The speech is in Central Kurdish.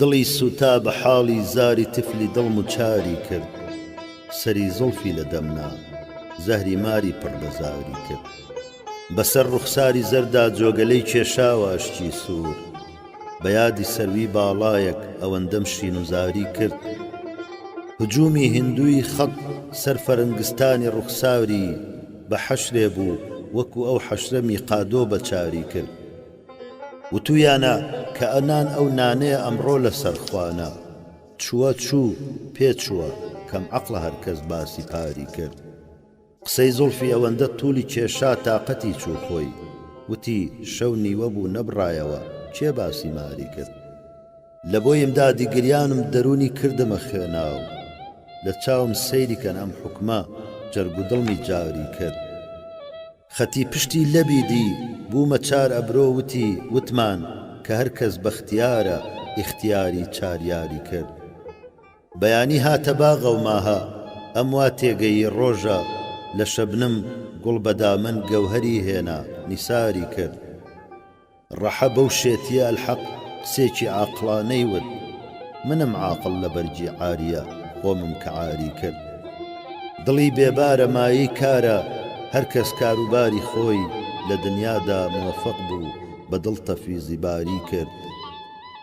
دڵی سووتا بە حاڵی زاری تفلی دڵم و چاری کرد سەری زوڵفی لە دەم نا زەهری ماری پڕ لە زاری کرد بەسەر ڕوخساری زەردا جۆگەلەی کێشاوە ئەشکی سوور بە یادی سەروی باڵایەک ئەوەندەم شین و زاری کرد هجومی هندوی خەت سەر فەرنگستانی ڕوخساری بە حەشرێ بوو وەکو ئەو حەشرە میقادۆ بە چاری کرد وتویانە کە ئەنان ئەو نانەیە ئەمڕۆ لە سەرخوانە چووە چوو پێ چووە کەم عەقڵە هەرکەس باسی پاری کرد. قسەی زوڵفی ئەوەندە تولی کێشا تاقەتی چوو خۆی وتی شەو نیوە بوو نەبڕایەوە کێ باسی ماری کرد لە بۆیم دادی گریانم دەرونی کردمە خوێناو لە چاوم سەیری کەن ئەم حوکمە جەرگ و دڵمی جاوری کرد خەتی پشتی لەبی دی بومە چار ئەبرۆ وتی وتمان کە هەر کەس بەختیارە ئیختیاری چار یاری کرد. بەیانی هاتە باغە و ماهە ئەم وا تێگەیی ڕۆژە لە شەبنم گوڵ بە دامن گەوهەری هێنا نیساری کرد ڕەحە بەو شێتیە ئەلحەق قسێکی عاقڵانەی وت منم عاقڵ لە بەرگی عاریە خۆمم کە عاری کرد دڵی بێبارە مایەی کارە هەر کەس کاروباری خۆی لە دنیادا موەفەق بوو بە دڵ تەفویزی باری کرد.